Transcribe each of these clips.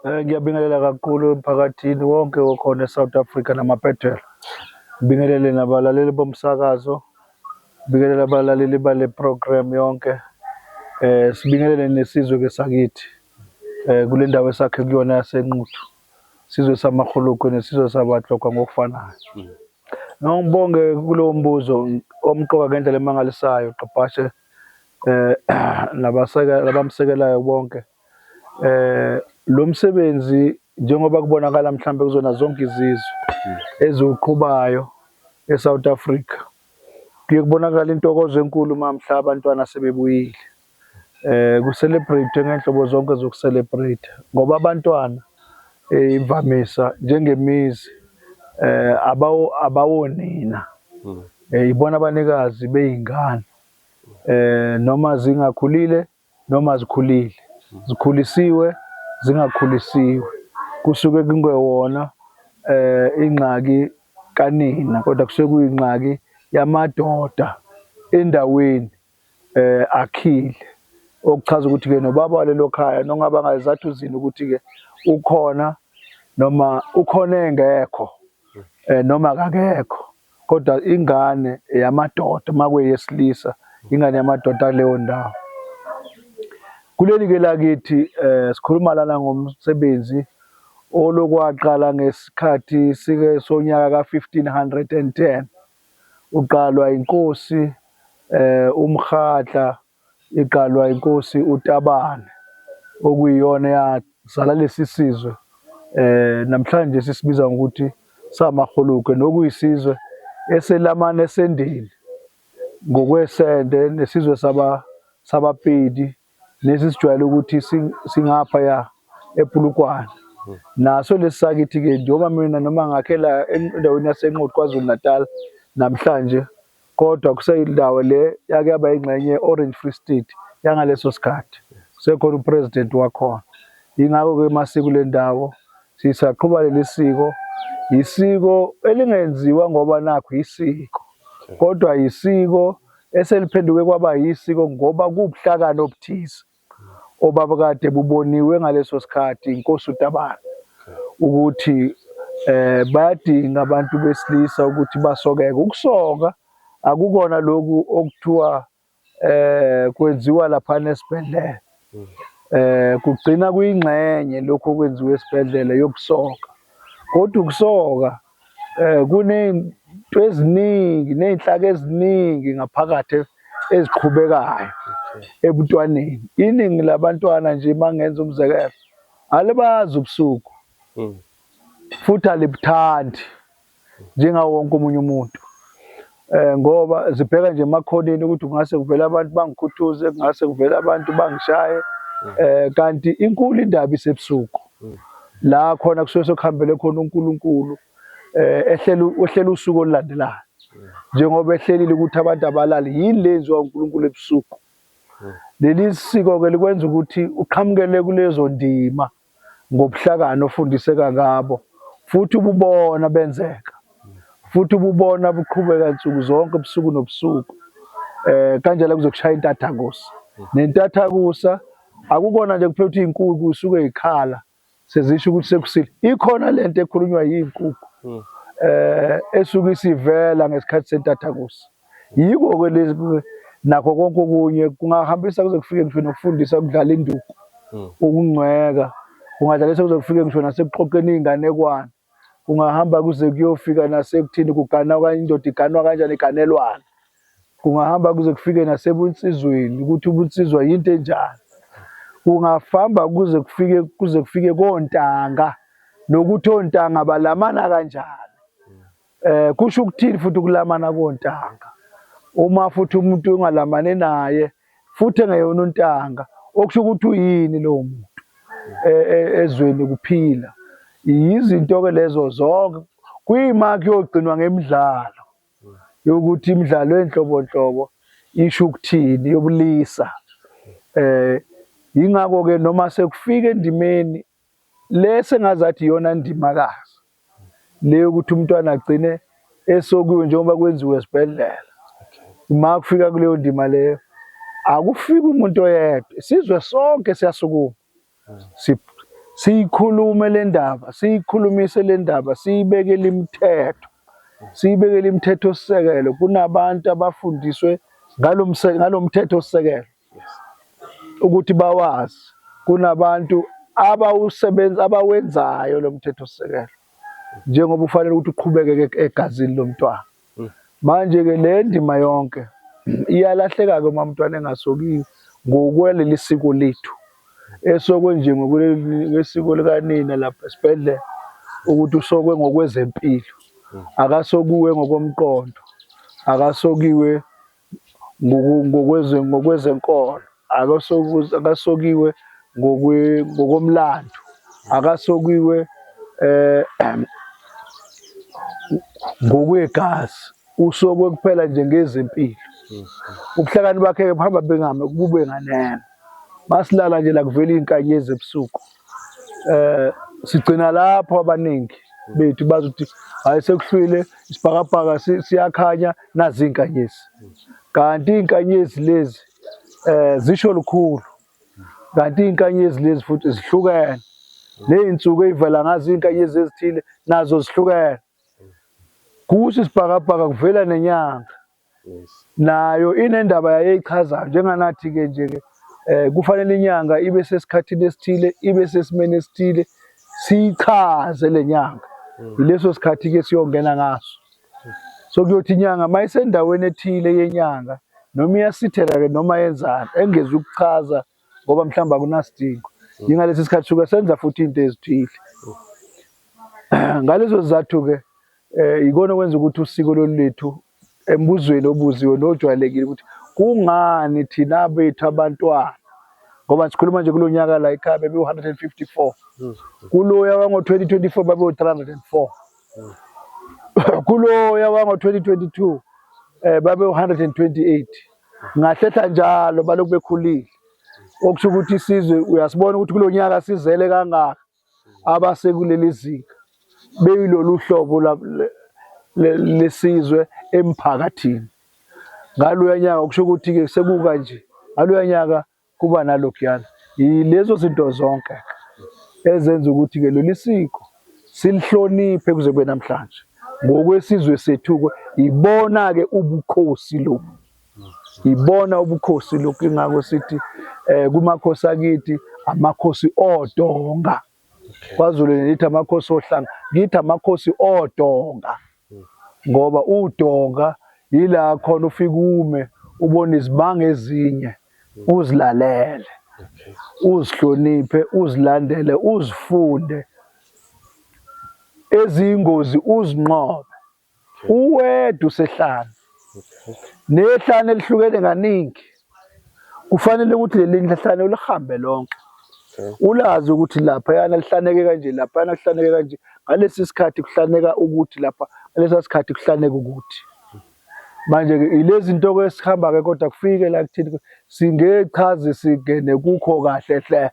Eh, ngiyabingelela kakhulu emphakathini wonke okhona eSouth Africa namabhedela. Ngibingelele nabalaleli bomsakazo, ngibingelele abalaleli bale program yonke. Eh sibingelele nesizwe ke sakithi. Eh kule ndawo esakhe kuyona yasenquthu. Sizwe samahulukwe nesizwe sabatlokwa ngokufanayo. Mm. Ngibonge kulowo mbuzo omqoka ngendlela emangalisayo Gqabhashe eh nabaseka labamsekelayo bonke. Eh, eh lo msebenzi njengoba kubonakala mhlambe kuzona zonke izizwe eziwuqhubayo eSouth Africa kuye kubonakala intokozo enkulu mamhla abantwana sebebuyile eh ku celebrate ngenhlobo zonke zoku celebrate ngoba abantwana eh, imvamisa njengemizi eh abawo abawonina hmm. eh, ibona abanikazi beyingane eh noma zingakhulile noma zikhulile, zikhulisiwe, zingakhulisiwe kusuke kungewona um ingxaki kanina kodwa kusuke kuyingxaki yamadoda endaweni um akhile. Okuchaza ukuthi-ke nobaba walelo khaya nongaba ngazizathu zini ukuthi-ke ukhona noma ukhona engekho um noma akakekho. Kodwa ingane eyamadoda uma kweyesilisa ingane yamadoda kuleyo ndawo. Kuleli ke lakithi eh sikhuluma lana ngomsebenzi olokwaqala ngesikhathi sike sonyaka ka 1510 uqalwa inkosi eh umkhatla iqalwa inkosi uTabane okuyiyona eyazala lesi sizwe namhlanje sisibiza ngokuthi samaRhulukwe nokuyisizwe eselamana esendeni ngokwesende nesizwe sabaPedi lesi esijwayele ukuthi singaphaya ePulukwane. Naso lesi sakithi-ke njengoba mina noma ngakhela endaweni yaseNquthu KwaZulu-Natal namhlanje kodwa kuseyindawo le yake yaba ingxenye ye-Orange Free State yangaleso sikhathi, kusekhona uPresident wakhona. Yingakho-ke masiko le ndawo sisaqhuba leli siko, yisiko elingenziwa ngoba nakho yisiko, kodwa yisiko eseliphenduke kwaba yisiko ngoba kuwubuhlakani obuthize. obabekade buboniwe ngaleso sikhathi inkosi uTabane ukuthi eh bayadinga abantu besilisa ukuthi basokeke ukusoka akukona lokhu okuthiwa eh kwenziwa lapha nesibhedlela eh kugcina kuyingxenye lokho okwenziwa esibhedlela yokusoka kodwa ukusoka Eh kunento eziningi nezinhlaka eziningi ngaphakathi eziqhubekayo ebuntwaneni. Iningi labantwana nje mangenza umzekelo alibazi ubusuku. Hmm. Futhi alibuthandi njengawo wonke omunye umuntu. eh ngoba zibheka nje emakhoneni ukuthi kungase kuvele abantu bangikhuthuze kungase kuvele abantu bangishaye mm. eh kanti inkulu indaba isebusuku mm. la khona kusuke sokuhambele khona uNkulunkulu eh ehlela uhlela usuku olulandelayo mm. njengoba ehlelile ukuthi abantu abalali yini lenziwa uNkulunkulu ebusuku leli siko ke likwenza ukuthi uqhamukele kulezo ndima ngobuhlakani ofundiseka ngabo futhi ububona benzeka futhi ububona buqhubeka nsuku zonke ubusuku nobusuku eh kanjalo kuzokushaya intathakusa nentathakusa akukona nje kuphela ukuthi inkukhu isuke ikhala sezisho ukuthi sekusile ikhona lento ekhulunywa yinkukhu hmm. eh esuke isivela ngesikhathi sentathakusa Yiko-ke lezi nakho konke okunye kungahambisa kuze kufike ngisho nokufundisa ukudlala induku, hmm. ukungcweka, kungadlalisa kuze kufike ngisho nasekuxoxeni iy'nganekwane, kungahamba kuze kuyofika nasekuthini kugana okanye indoda iganwa kanjani iganelwana, kungahamba kuze kufike nasebunsizweni ukuthi ubunsizwa yinto enjani, kungafamba kuze kufike kuze kufike kontanga nokuthi ontanga balamana kanjani Eh kusho ukuthini futhi ukulamana kontanga? Uma futhi umuntu ungalamane naye futhi engeyona untanga, okusho ukuthi uyini lowo muntu e, e, ezweni kuphila. Yizinto ke lezo zonke kuyima kuyogcinwa ngemidlalo yokuthi imidlalo enhlobonhlobo isho ukuthini yobulisa eh ingakho ke noma sekufika endimeni Le sengazathi iyona ndimakazi le yokuthi umntwana agcine esokiwe njengoba kwenziwe esibhedlela. Uma kufika kuleyo ndima leyo akufika umuntu oyedwa, isizwe sonke siyasukuma siyikhulume le ndaba, siyikhulumise le ndaba, siyibekele imithetho, siyibekele imithetho sisekelo. Kunabantu abafundiswe ngalo mthetho sisekelo ukuthi bawazi kunabantu abawusebenza abawenzayo lo mthethosisekelo njengoba ufanele ukuthi uqhubeke egazini lomntwana mm. manje ke le ndima yonke iyalahleka ke uma umntwana engasokiwe ngokweleli siko lethu esokwe nje ngokwesiko likanina lapha esibhedlela ukuthi usokwe ngokwezempilo mm. akasokuwe ngokomqondo akasokiwe ngokwezenkolo akasokiwe ngokomlando akasokiwe eh ngokwegazi usokwe kuphela nje ngezempilo ubuhlakani bakhe buhamba bengame kube nganeno masilala nje la kuvela izinkanyezi ebusuku eh sigcina lapho abaningi bethu bazi ukuthi hayi sekuhlwile isibhakabhaka siyakhanya nazi inkanyezi kanti inkanyezi lezi eh zisho lukhulu kanti inkanyezi lezi futhi zihlukene nezinsuku ezivela ngazo inkanyezi ezithile nazo zihlukene kusho isibhakabhaka kuvela nenyanga Yes. Nayo inendaba yayeyichazayo njenganathi ke nje ke eh kufanele inyanga ibe sesikhathini esithile ibe sesimeni esithile sichaze lenyanga hmm. yileso sikhathi ke siyongena ngaso so kuyothi inyanga mayisendaweni ethile yenyanga noma iyasithela ke noma yenzani engezi ukuchaza ngoba mhlawumbe akunasidingo yingalesi sikhathi suke senza futhi into ezithile ngalezo zizathu-ke um yikona okwenza ukuthi usiko lolu lethu embuzweni obuziwe nojwayelekile ukuthi kungani thina bethu abantwana ngoba sikhuluma nje kulo nyaka la ekhaya bebewu-154 hmm. kuloya wango-2024 babewu-304 hmm. kuloya wango-2022 um babewu-128 ngahlehla njalo balokhu bekhulile okusho ukuthi isizwe uyasibona ukuthi kulo nyaka sizele kangaka abasekuleli zinga beyilolu hlobo lesizwe emphakathini ngaloya nyaka kusho ukuthi-ke sekuka nje ngaloya nyaka kuba nalokuyana yilezo zinto zonke ezenza ukuthi-ke leli siko silihloniphe kuze kube namhlanje ngokwesizwe sethu-ke ibona-ke ubukhosi lobu ibona ubukhosi lobu ingako sithi um kumakhosi akithi amakhosi odonga KwaZulu ngithi amakhosi ohlanga ngithi amakhosi odonga hmm. ngoba udonga yila khona ufike ume ubone izibanga ezinye hmm. uzilalele uzihloniphe uzilandele uzifunde ezingozi uzinqobe Uwedwa usehlane nehlane elihlukene kaningi. Kufanele ukuthi leli nhlane ulihambe lonke. Ulazi ukuthi lapha yana lihlaneke kanje, lapha yana lihlaneke kanje. Ngalesi sikhathi kuhlaneka ukuthi lapha, ngalesi sikhathi kuhlaneka ukuthi. Manje ke ilezi zinto ke sihamba ke kodwa kufike la kuthini singechazi singene kukho kahle hle.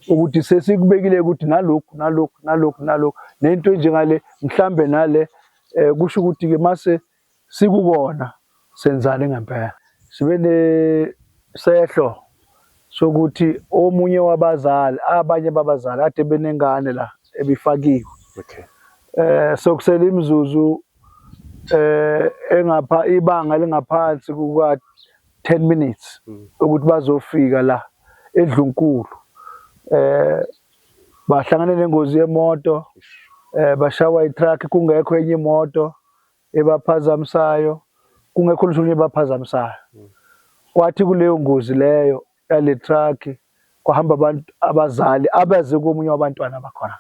ukuthi sesikubekile ukuthi nalokhu nalokhu nalokhu nalokhu nento enjengale mhlambe nale eh kusho ukuthi ke mase sikukona senzani ngempela sibe ne sehlo sokuthi omunye wabazali abanye babazali ade benengane la ebifakiwe okay eh sokusela imizuzu eh engapha ibanga lingaphansi kuka 10 minutes mm. ukuthi bazofika la edlunkulu eh bahlangane nengozi yemoto eh bashawa itruck kungekho enye imoto ebaphazamisayo kungekho lishunye ebaphazamisayo mm. kwathi kuleyo ngozi leyo yale truck kwahamba abantu abazali abaze komunye wabantwana bakhona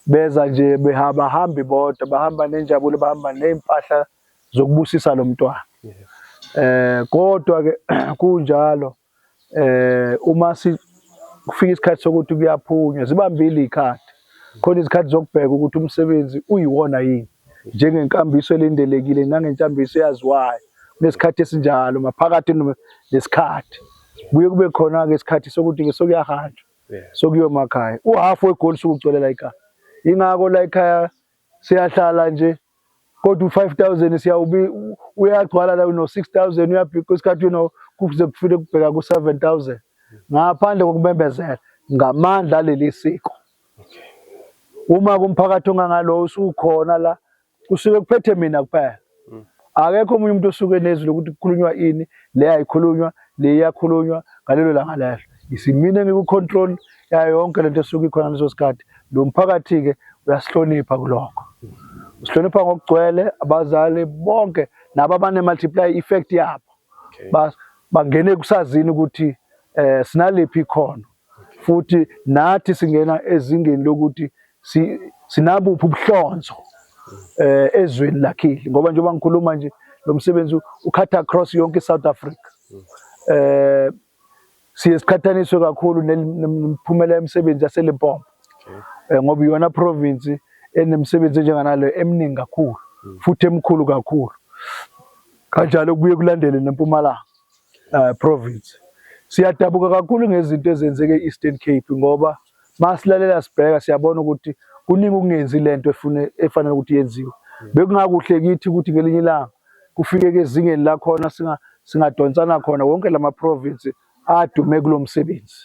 beza nje behamba hambi bodwa bahamba nenjabulo bahamba nezimpahla zokubusisa lo mntwana eh kodwa ke kunjalo eh uma si kufika isikhathi sokuthi kuyaphunywa zibambile ikhadi khona izikhathi zokubheka ukuthi umsebenzi uyiwona yini njengenkambiso elindelekile nangenkambiso eyaziwayo kunesikhathi esinjalo maphakathi nesikhathi kuye kube khona-ke isikhathi sokuthi-ke sokuyahanjwa sokuyomakhaya uhafu wegoli sukugcwele la ekhaya ingako la ekhaya siyahlala nje kodwa u-five thousand siyawubi uyagcwala la uno-six thousand uyabhikwa isikhathi uno kuze kufike kubheka ku-seven thousand ngaphandle kokumembezela ngamandla aleli siko uma kumphakathi ongangalowo usukhona la kusuke kuphethe mina kuphela mm. akekho omunye umuntu osuke nezwi lokuthi kukhulunywa ini le ayikhulunywa le iyakhulunywa ngalelo langa lelo isimine ngikucontrol yayo yonke lento esuke ikhona leso sikhathi lo mphakathi-ke uyasihlonipha kulokho usihlonipha ngokugcwele abazali bonke nabo abane-multiply effect yabo bangene kusazini ukuthi um sinaliphi ikhono futhi nathi singena ezingeni lokuthi si, sinabuphi ubuhlonzo eh ezweni lakhile ngoba njengoba ngikhuluma nje lo msebenzi ukhatha across yonke iSouth Africa eh siye siqhathaniswe kakhulu nemiphumela yemisebenzi yaseLimpopo eh, ngoba iyona province enemisebenzi enjenganalo eminingi kakhulu hmm. futhi emkhulu kakhulu kanjalo kubuye kulandele nempumalanga uh, province siyadabuka kakhulu ngezinto ezenzeke e-Eastern Cape ngoba masilalela sibheka siyabona ukuthi kuningi ukungenzi lento efune efanele ukuthi yenziwe bekungakuhle kithi ukuthi ngelinye ilanga kufike ke ezingeni la khona singa singadonsana khona wonke lama province adume kulomsebenzi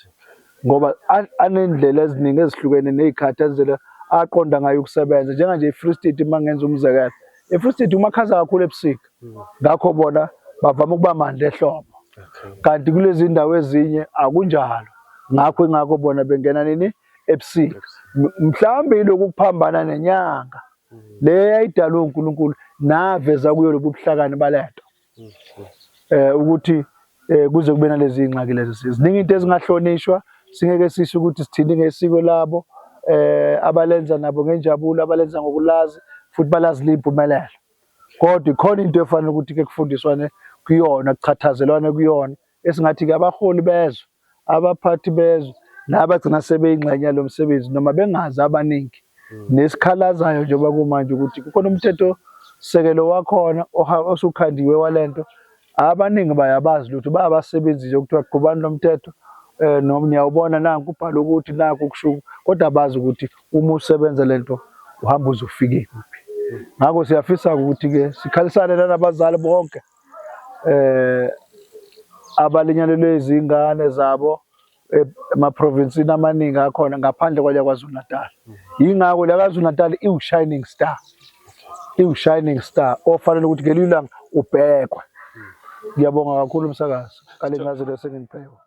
ngoba anendlela eziningi ezihlukene nezikhathi ezindlela aqonda ngayo ukusebenza njenganje iFree State mangenza umzekelo iFree State umakhaza kakhulu ebusika ngakho bona bavama ukuba mandla ehlobo kanti kulezi ndawo ezinye akunjalo ngakho ingakho bona bengena nini ebusika mhlawumbe yiloku kuphambana nenyanga le yayidalwe uNkulunkulu naveza kuyo lobu buhlakani balento eh ukuthi eh kuze kube nalezi ingxaki lezi ziningi into ezingahlonishwa singeke sisho ukuthi sithini ngesiko labo eh abalenza nabo ngenjabulo abalenza ngokulazi futhi balazi limpumelelo Kodwa ikhona into efanele ukuthi ke kufundiswane kuyona kuchathazelwane kuyona esingathi ke abaholi bezwe abaphathi bezwe nabagcina sebeyingxenye yalo msebenzi noma bengazi abaningi hmm. nesikhalazayo njengoba kumanje ukuthi kukhona umthetho sekelo wakhona osukhandiwe walento abaningi bayabazi lutho bayabasebenzi nje kuthiwa qhubani lomthetho eh noma niyawubona nanku ubhala ukuthi naku kushuka kodwa bazi ukuthi uma usebenza lento uhamba uzofike kuphi ngakho siyafisa ukuthi ke sikhalisane nabazali bonke eh abalinyalelwe izingane zabo Eh, emaprovinsini amaningi akhona ngaphandle kwale KwaZulu-Natal. Yingakho la KwaZulu-Natal iwu-shining star, iwu-shining star ofanele ukuthi ngelinye ilanga ubhekwe. Ngiyabonga kakhulu umsakazo ngale ncazelo esenginiphekwa.